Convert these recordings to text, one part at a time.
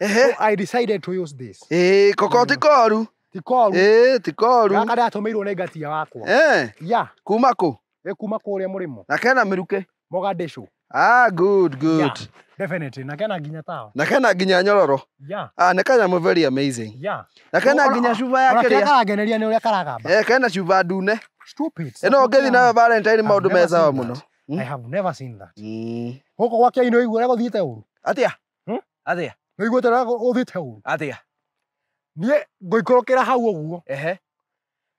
Ehe. So I decided to use this. Eh, koko ti koru. Ti koru. Eh, ti koru. Gaka ndatumirwo nĩ ngatia wakwa. Eh. Yeah. Kuma kũ? Ĩ kuma kũrĩa mũrĩmo. Na kena mĩrukĩ. Mogadishu. Ah, good, good. Yeah, definitely. Na kena nginya tawa. Na kena nginya nyororo. Yeah. Ah, nĩ kanyamũ very amazing. Yeah. Na kena nginya cuba ya kĩrĩa. Ona kĩrĩa karangeneria nĩ ũrĩa karagamba. Eh, kena cuba ndune. Stupid. Ĩno ngĩthi nayo Valentine maũndũ me sawa mũno. Hmm? I have never seen that. Mm. Gũkũ gwake inũ igua ũrĩa gũthiĩte ũru. Atia? Hmm? Athĩa. Nĩ iguĩte na ũthiĩte ũguo. Athĩa. Niĩ ngoikũrũkĩra hau ũguo. Ehe.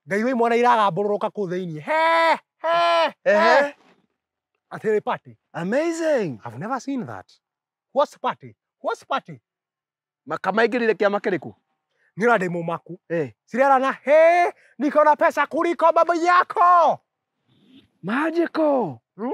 Ngaigua imwana iragambũrũrũka kũu thĩinĩ. He! He! Ehe. Atĩ nĩ party. Amazing. I've never seen that. What's party? What's party? Makamaingĩrire kĩama kĩrĩkũ? Niĩ na ndĩ mũmaku. Eh. Cirerana, he! Niko na pesa kuliko baba yako. Magical. Hmm?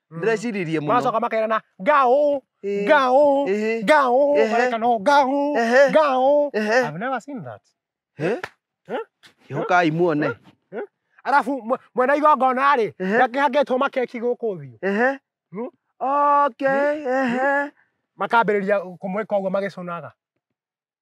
ndĩreciririe mũno macoka makerana ngao Ĩĩ. ngao Ĩhĩ. ngao Ehe. mareka no ngao Ehe. ngao Ehe. I've never seen that Eh? Eh? kĩhũkai muone arabu mwe- mwena igongona rĩ Ehe. gakĩhangĩtwo makeki gũkũ thiũ Ehe. Hmm? okay ehe makambĩrĩria kũmwĩka ũguo magĩcũnaga